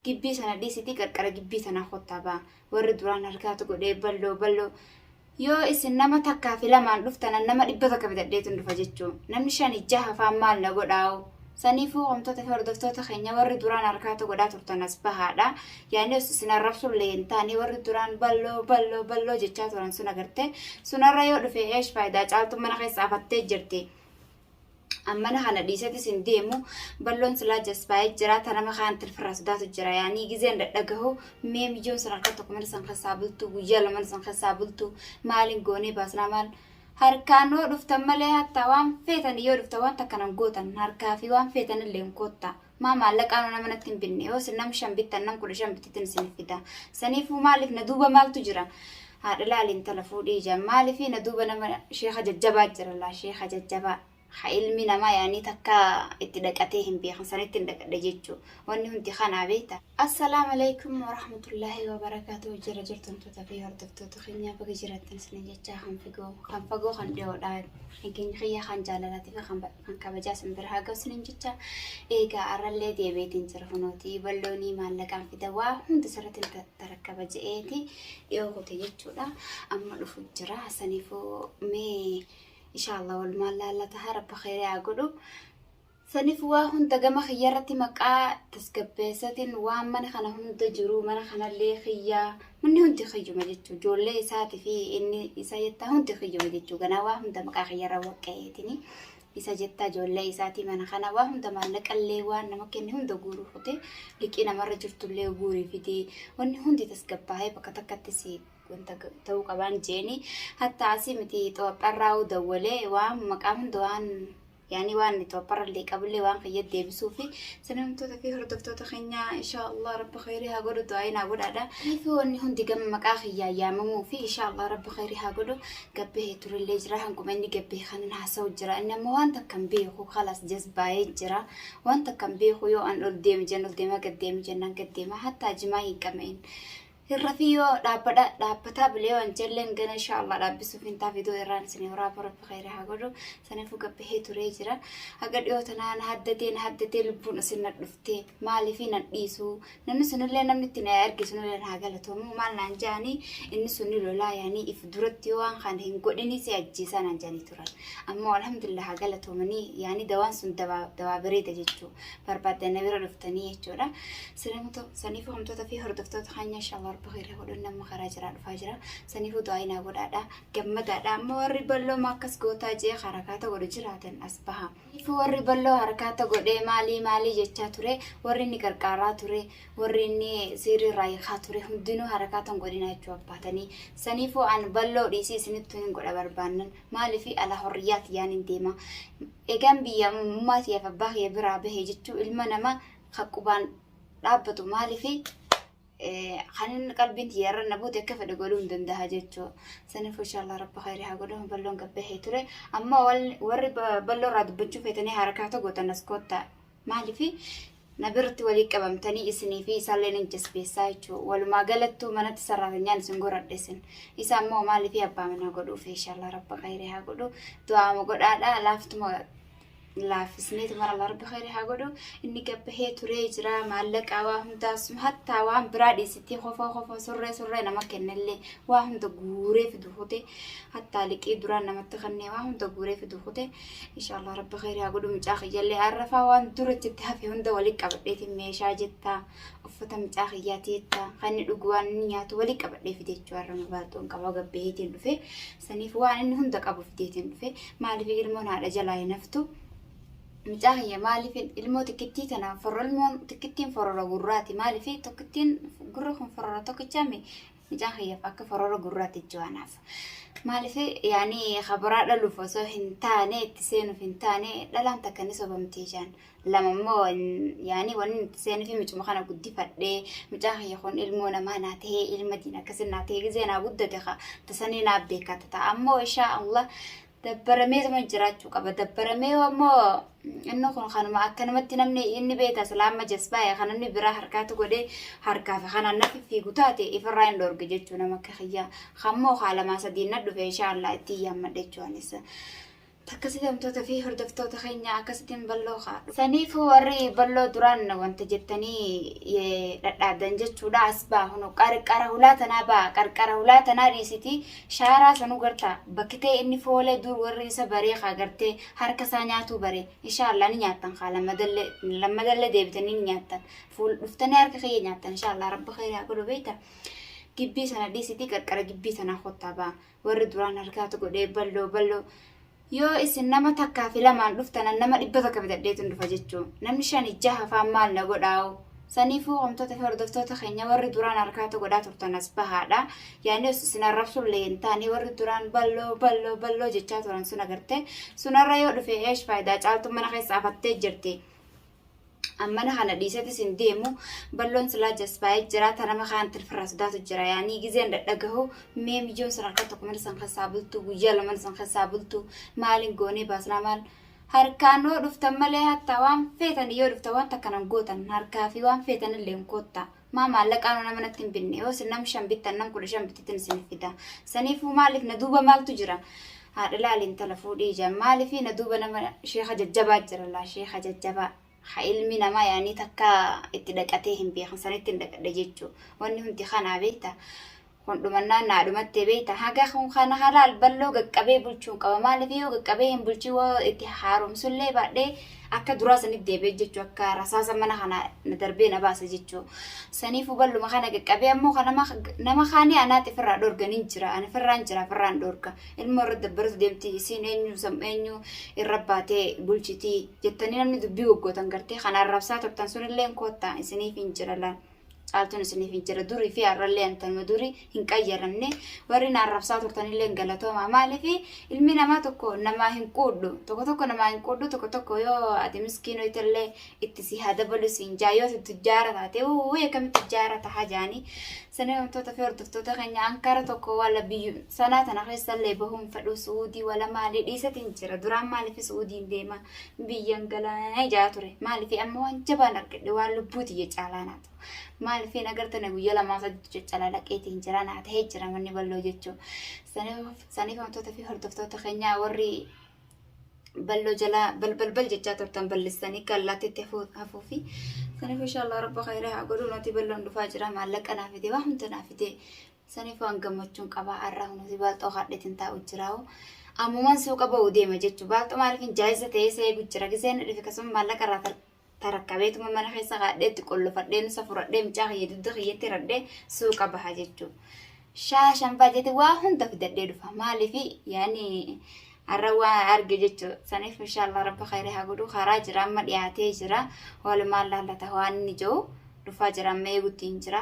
Gibbii sana dhiisitii qarqara gibbii sanaa kottaa baa. Warri duraan harkaatu godhee balloo balloo. Yoo isin nama takkaa fi lamaan dhuftanan nama dhibba takka bitadheetu dhufa jechuu. Namni shani jaha faan maal na godhaa'u. Saniifuu homtoota fi hordoftoota keenya warri duraan harkaatu godhaa turtan as bahaadha. Yaani os isin arrabsuun illee hin taane warri duraan balloo balloo balloo jechaa turan sun agarte. Sunarra yoo dhufe eesh faayidaa caaltuun mana keessa afattee jirti. ammana kana dhiisati sin deemu balloon silaa jasbaa'ee jira ta nama kaan tilfirraa sodaatu jira yaanii gizeen dhadhagahu mee miyyoon san harka tokko mana san keessaa bultu guyyaa lama mana san keessaa bultu maaliin goonee baasnaa maal harkaan yoo dhuftan malee hatta waan feetan yoo dhuftan waan takkanan gootan harkaa fi waan feetan illee hin koottaa Maa maallaqaa nama natti hin binne yoo isin nam shan bittan nam kudha shan bittitin isin fida. Saniifuu maaliif na duuba maaltu jira? Haadha laali intala fuudhii ija maaliif na duuba nama sheeka jajjabaa jira laa sheeka jajjabaa. Ha ilmi namaa yaanii takka itti dhaqatee hin beekan sanitti hin dhaqadhe jechuu. Wanni hundi kanaa beekta. Assalaamu alaikum warahmatullaahi wabarakaatu jira jirtumtoota fi hordoftoota keenyaa baga jiraattan isin jechaa kan figoo kan fagoo kan dhiyoodhaa kan keenya kiyyaa kan jaalalaatiif kan Kan kabajaa sin bira haa ga'u sinin jecha eegaa har'allee deebi'eetiin jira kunooti balloonii maallaqaan fida waa hunda sirratti ta- tarakkaba je'eeti dhiyoo kote jechuudha amma dhufu jira saniifuu mee inshaallah wal maallaalla taha rabbi khayrii haa godhu saniif waa hunda gama kiyya irratti maqaa tasgabbeessatiin waan mana kana hunda jiru mana kanallee kiyyaa Inni hundi kiyyuma jechuun ijoollee isaatii fi inni isa jettaa hundi kiyyuma jechuun ganaa waa hunda maqaa kiyyarra waqqa'eetini isa jettaa ijoollee isaatii mana kana waa hunda maallaqallee waan nama kenne hunda guuruu fute liqii namarra jirtullee guurii fidee wanni hundi tasgabbaa'ee bakka takkatti si wanta ta'uu qabaan jeeni hatta asii miti xoopharraa'uu dawwalee waan maqaa hunda waan yaani waan topparallee qabullee waan kiyya deebisuu fi sanamtoota fi hordoftoota keenya insha Allah rabbi khayrii haa godhu du'aayin haa godhaadha fi wanni hundi gama maqaa kiyyaa yaamamuu fi insha Allah rabbi khayrii haa godhu gabbee turellee jira hanguma inni gabbee kanan haasa'u jira inni ammoo waan takka hin beeku kalas jazbaa'ee jira waan takka hin beeku yoo an ol deeme jan ol deema gad deeme jennaan gad deema hattaa jimaa hin qabne Hirrafii yoo dhaabbadha dhaabbataa bilee waan jalleen gana insha Allah dhaabbisuuf hin ta'a fidoo irraan isin horaa rabbi khayri haa godhu sanifu gabbahee turee jira haga dhiyoo tanaa na haddatee na haddatee lubbuun isin na dhufte maaliif nan dhiisu namni sunillee namni itti na erge sunillee na haa galatomu maal naan jaanii inni sunni lolaa yaanii if duratti yoo waan kana hin godhinii si ajjeesaa naan jaanii turan ammoo alhamdulillah haa galatomanii yaanii dawaan sun dawaa dawaa bareeda jechuu barbaaddan na bira dhuftanii jechuudha Salamoto sanifu hamtota fi hordoftoota kanya inshallah rabbi khairii godhun namma karaa jira dhufaa jira sanifu du'aa naa godhaadha gammadaadha amma warri balloo maakkas gootaa jee harakaata godhu jiraatan as baha sanifu warri balloo harakaata godhee maalii maalii jechaa ture warri inni qarqaaraa ture warri inni siirii irraa hiikaa ture hundinuu harakaatan godhinaa jechuu abbaatanii sanifu an balloo dhiisii isinittu hin godha barbaannan maalifi ala horriyyaati yaan hin deema egaan biyya mummaatii abbaa kiyya biraa bahe jechuu ilma namaa kan qubaan dhaabbatu maaliifi kan inni qalbiin tiyya irra na buute akka fedhe godhuu hin danda'a jechuu saniif inshaallaa rabbi khayri haa godhu balloon gabbahee ture amma warri balloo irraa dubbachuu feetanii harakaa tokko gootan as koottaa maaliifi na biratti walii qabamtanii isinii fi isaallee ni jasbeessaa jechuu walumaa galattuu manatti sarraatanyaan isin goradhesin isa ammoo maaliifi abbaa manaa godhuuf inshaallaa rabbi khayri haa godhu du'aama godhaadha laaftuma laafisneetu mara larbi khayri haa godhu inni gabbahee turee jira maallaqaa waa hundaa sun hattaa waan biraa dhiisittii kofoo kofoo surree surree nama kennellee waa hunda guuree fidu kute hattaa liqii duraan namatti kennee waa hunda guuree fidu kute inshaallah rabbi khayri haa godhu mucaa kiyyallee arrafaa waan dura jetti hafe hunda walii qabadheetiin meeshaa jettaa uffata mucaa kiyyaa teettaa kan inni dhugu waan inni nyaatu walii qabadhee fide jechuu har'a mabaalxoon qabaa gabbaheetiin dhufee Saniif waan inni hunda qabu fideetiin dhufe maaliif ilmoon haadha jalaa hin haftu mucaa kiyya maaliif ilmoo tikkittii kana forro ilmoon tikkittiin forora gurraati maaliif tokkittiin gurra kun forora tokkichaame mucaa kiyyaaf akka forora gurraati jo'anaaf maaliif yaani kabaraa dhaluuf osoo hin taane itti seenuuf hin taane dhalaan takka ni sobamtee jaan lama immoo yaani wanni itti seenuu fi mucuma kana guddifadhee mucaan kiyya kun ilmoo namaa naa ta'ee ilma diin akkasii naa ta'ee gizee naa guddate ka tasanii naa beekata ta'a ammoo ishaa Allah dabbaramee tuma jiraachuu qaba dabbaramee ammoo inni kun kanuma akkanumatti namni inni beekta islaama jasbaa'e kan namni biraa harkaatu godhee harkaa fi kanaan nafi fiigu taate ifirraa hin dhoorge jechuu nama akka kiyyaa kammoo haa lamaa sadiin na dhufe ishaa Allah itti yaammadhe jechuunis. Takkasitamtoota fi hordoftoota keenya akkasitiin balloo kaadhu. Saniifuu warri balloo duraan wanta jettanii dhadhaabdan jechuudha as baa hunu qarqara hulaa tanaa baa qarqara hulaa tanaa dhiisitii shaaraa sanuu gartaa bakkitee inni foolee dur warri isa baree kaa gartee harka isaa nyaatuu baree inshaallah ni nyaattan kaa lammadallee lammadallee deebitanii ni nyaattan fuul dhuftanii harka kiyya nyaattan inshaallah rabbi khayraa godhu beekta gibbii sana dhiisitii qarqara gibbii tanaa kottaa baa warri duraan harkaatu godhee balloo balloo yoo isin nama takkaa fi lamaan dhuftanan nama dhibba takka bitadheetun dhufa jechuu namni shan ijaa hafaan maal na godhaa'u saniifuu homtoota fi hordoftoota keenya warri duraan harkaatu godhaa turtan as bahaadha yaani os isin arrabsullee hin taane warri duraan balloo balloo balloo jechaa turan sun agarte sunarra yoo dhufe eesh faayidaa caaltu mana keessa afattee jirti. ammana kana dhiisetis hin deemu balloon silaa jasbaa'ee jira ta nama kaan tilfirraa sodaatu jira yaanii gizeen dhadhagahu mee mijoon san harka tokko mana san keessaa bultu guyyaa lama mana san keessaa bultu maaliin goonee baasnaa maal harkaan yoo dhuftan malee hatta waan feetan yoo dhuftan waan takkanan gootan harkaa fi waan feetan illee hin koottaa. maa maallaqaa nama natti hin binne yoo isin nam shan bittan nam kudha shan bittitin isin fida saniifuu maaliif na duuba maaltu jira haadha laali intala fuudhii ijaan maaliif na duuba nama sheeka jajjabaa jira laa sheeka jajjabaa ha ilmi namaa yaanii takka itti dhaqatee hin beekan sanitti hin dhaqadhe jechuu wanni hundi kanaa beekta Kun dhumannaan naa dhumattee beekta haga kun kana halaal balloo gaqqabee bulchuun qaba maaliif yoo gaqqabee hin bulchin woo itti haaromsullee baadhee akka duraa sanitti deebi'e jechuu akka rasaasa mana kana na darbee na baasa jechuu saniifuu balluma kana gaqqabee ammoo kan nama nama kaanii anaatti firraa dhorgan hin jira ani firraan jira firraan dhorga ilmoo irra dabbaratu deemti isiin eenyu sam eenyu irra baatee bulchitii jettanii namni dubbii goggootan gartee kan arrabsaa turtan sunillee koottaa isiniif hin jira laan. Caaltuun isiniif hin jira durii fi har'allee antanuma durii hin qayyaramne warri na arrabsaa turtanillee hin galatoomaa maaliif ilmi namaa tokko namaa hin quudhu tokko tokko namaa hin quudhu tokko tokko yoo ati miskiinoo itallee itti si haa dabalu siin jaa yoo itti tujjaara taate wuu akkamitti tujjaara tahaa jaanii sanee wantoota fi hordoftoota keenya ankara tokko wala biyyu sanaa tana keessallee bahuun fedhuu suudii wala maalii dhiisatiin jira duraan maaliif suudiin deemaa biyyan galaana ijaa ture maaliif amma waan jabaan argadhe waan lubbuu tiyya caalaa naa ta'u maaliif hin agartane guyyaa lamaa sadii caccalaa dhaqeetiin jira naa ta'ee jira manni balloo jechuun saniif wantoota fi hordoftoota keenyaa warri balloo jalaa balbalbal jechaa turtan balleessanii kallaattitti hafuu fi saniif inshaallah rabba khayra haa godhu nuti balloon dhufaa jira maallaqa naa fide waa hunda naa fide Saniifuu an gammachuun qaba har'a kunuunsi baalxoo haadheetiin taa'u jiraa'u. Ammumaan suuqa ba'u deema jechuun baalxoo maaliifin jaayisa ta'ee isa eegu jira giseen na dhufe kasuma maallaqa irraa tar- tarakkabeetuma mana keessa haadheetti qollofadhee nusa furadhee mucaa kiyya dugda kiyyatti radhee suuqa baha jechuun. Shaashan baajate waa hunda fidadhee dhufa maaliifi yaani har'a waa arge jechuun saniif inshaallah rabbi khayrii haa godhu karaa jira amma dhiyaatee jira walumaan laallata waan inni jiru dhufaa jira amma eeguutti hin jira.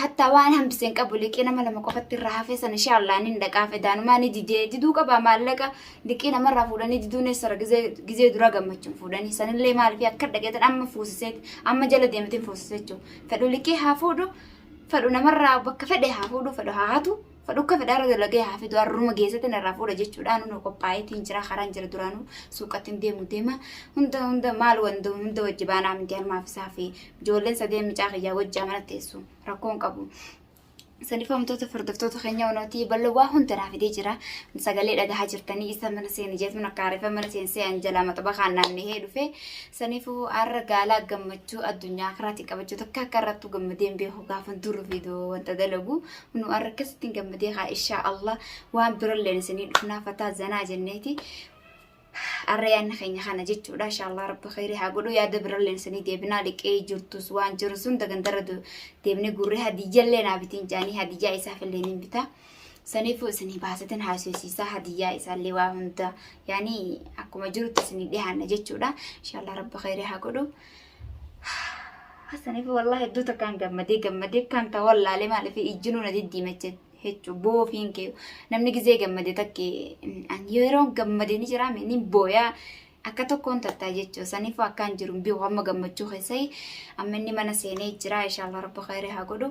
Hatta waan hambise hin qabu liqii nama lama qofatti irraa hafee sana ishee allaan hin dhaqaa fedaanumaa ni didee diduu qabaa maallaqa liqii namarraa fuudhanii diduun eessara gizee duraa gammachuun fuudhanii sanillee maaliif akka dhaqeetan amma fuusiseeti amma jala deematiin fuusise jechuudha fedhu liqii haa fuudhu fedhu namarraa bakka fedhe haa fuudhu fedhu haa hatu Fadhukka fedhaarra dalagee haa fidu harruma geessatti narraa fuudha jechuudhaan nu qophaa'eetiin jira karaan jira duraanuu suuqatti hin deemu deema hunda hunda maal wanda hunda wajji baanaa miti harmaaf isaa fi ijoolleen sadeen micaa kiyyaa wajji amana teessu rakkoon qabu. Sanifamtoota furdiftoota keenya wanootii bal'oo waa hunda naa fidee jira. Sagalee dhagahaa jirtanii isa mana seeni jeetuun akka aarifa mana seensee anjalaa maxaba kaan naanna'ee dhufe. Sanifuu har'a gaalaa gammachuu addunyaa karaatiin qabachuu takka akka irrattuu gammadeen beeku gaafan duru fiidoo wanta dalagu nu arrakasitti gammadee haa ishaa Allah waan biralleen isinii dhufnaa fataa zanaa jenneeti arra yaanna keenya kana jechuudha insha Allah rabbi khayrii haa godhu yaada biralleen isinii deebinaa liqee jirtus waan jiru sun dagandarra deebinee gurree hadiyyallee naa bitiin jaanii hadiyyaa isaaf illee niin bitaa saniifuu isinii baasatin haasofsiisaa hadiyyaa isaallee waa hunda yaanii akkuma jirutti isinii dhihaanna jechuudha insha Allah rabbi khayrii haa godhu Hasaniif wallahi hedduu takkaan gammadee gammadee kan ta'u wallaalee maaliif ijjinuu na diddiimache jechuun boofiin kee namni gizee gammade takke an yeroo gammade ni jira inni booyaa akka tokkoon tattaa jechuun saniif akkaan jiru bi'u amma gammachuu keessai amma inni mana seenee jira ishaallah rabbi khayri haa godhu.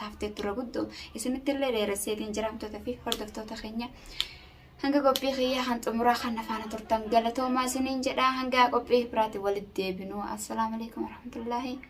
taaftee tura guddoo isinitti illee dheeresseetiin jiraamtoota fi hordoftoota keenya hanga qophii kiyyaa kan xumuraa kan afaana turtan galatoomaa isiniin jedhaa hanga qophii biraatiin walitti deebinuu assalaamu alaikum warahmatullaahi